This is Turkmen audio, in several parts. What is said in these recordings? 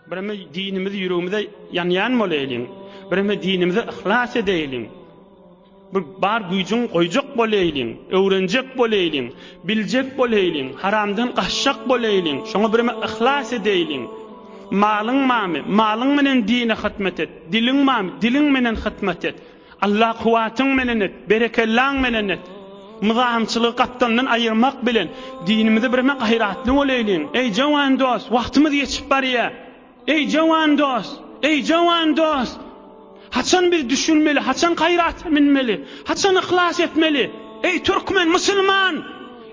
Bireme dinimizi ýüregimize ýanýan bolaýlyň. Bireme dinimize yhlas edeýliň. Bir bar güýjüň goýjak bolaýlyň, öwrenjek bolaýlyň, biljek bolaýlyň, haramdan gaçjak bolaýlyň, şoňa bireme yhlas edeýliň. Malyň bamy, malyň menen dine hytmat et, diliň bamy, diliň menen hytmat et. Allah kuwwatyň menen et, berekellaň menen et. Myzamçylygy gapdalyndan aýyrmak bilen, dinimizi birme gaýratly bolaýlyň. Eý jowan dost, wagtymyz geçip barýa. Eý jowan dost, eý jowan dost. Haçan biz düşünmeli, haçan gaýrata münmeli, haçan yhlas etmeli. Eý türkmen, musulman!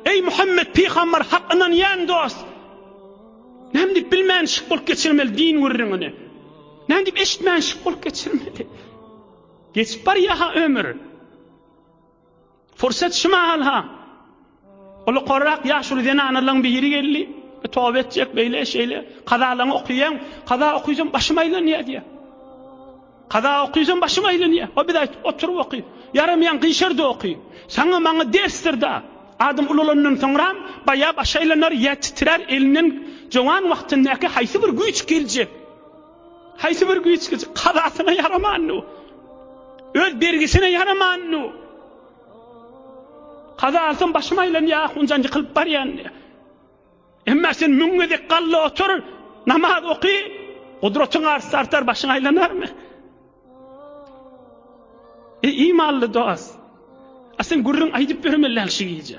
Eý Muhammet pygambar hak ynanýan dost! Näme diýip bilmän şyk bolup geçirmeli din gürrüňini. Näme diýip eşitmän şyk bolup geçirmeli. Geçip barýa-ha ömür. Pursat şu mahal-ha. Ol korrak ýaşuly zenanalaryň biri geldi. E, Toba etjek beýle şeýle. Kazalaryňy okuýaň. Kaza okuýsam başym aýlanýar diýär. Kaza okuýsam başym aýlanýar. O biz aýt oturyp oky. Ýaramaýan gyşarda oky. Saňa maňa dersdir da. Adam ululandan soňra baýa baş aýlanar, ýer titrer, elinden jowan wagtyndaky haýsy bir güýç geljek. Haýsy bir güýç güç kazasyna ýaramandy. Öz bergisine ýaramandy. Kaza alsam başym aýlanýar, hunjan ýykylyp barýan. Emma sen müň gezek galla otur, namaz oky, gudratyň arsa artar, başyň aýlanarmy? E, imanly dost. A sen gürrüň aýdyp ýörme şu gije.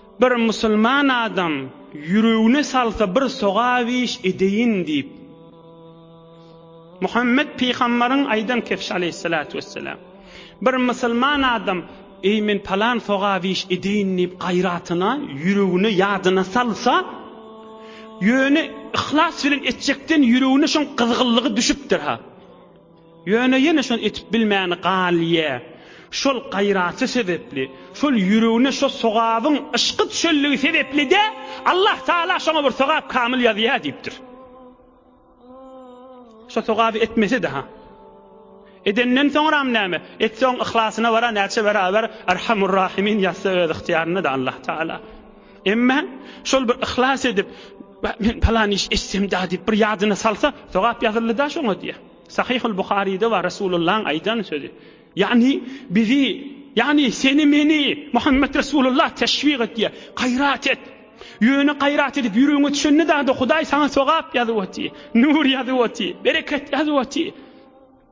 Bir musulman adam ýüregine salsa bir sogap iş edeýin diýip, Muhammet pygamberiň aýdan kefşi aleýhissalatu wessalam. Bir musulman adam eý men palan sogap iş edeýin diýip gaýratyna, ýüregine, ýadyna salsa, ýöne yhlas bilen etjekden ýüregine şoň gyzgynlygy düşüpdir-ha. Ýöne ýene şony etip bilmäni galýa. Şol gaýraty sebepli, şol ýüregine şo sogabyň yşky düşenligi sebepli-de Allah Taala şoňa bir sogap kamyl ýazýa diýipdir. Şo sogaby etmese-de ha. Edenden soňram näme? Etseň yhlasyna bara näçe beraber Erhamur Rahimin ýazsa öz ygtyýarynda-da Allah Taala. Emma şol bir yhlas edip, men palan iş etsem da diýip bir ýadyna salsa, sogap ýazyldy da şoňa diýýär. Sahyhul Buharyda bar Resulullahyň aýdan sözi. Ýagny bizi, ýagny seni meni Muhammed Resulullah teşwik etýär. Gaýrat et. Ýöne gaýrat edip ýüregiňe düşende da Hudaý saňa sogap ýazyp otyr. Nur ýazyp otyr. Bereket ýazyp otyr.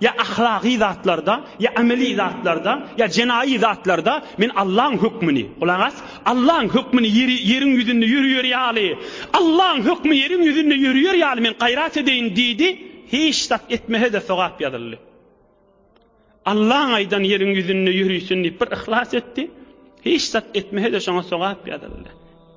Ýa ahlaky zatlarda, ýa ameli zatlarda, ýa jenaýy zatlarda men Allaň hökmüni, gulak as, Allaň hökmüni ýeri, ýeriň ýüzünde ýöriýer ýaly, Allaň hökmi ýeriň ýüzünde ýöriýer ýaly men gaýrat edeýin diýdi, hiç zat etmese-de sogap ýazyldy. Allaň aýdan ýeriň ýüzünde ýörisin diýip bir yhlas etdi, hiç zat etmese-de şoňa sogap ýazyldy.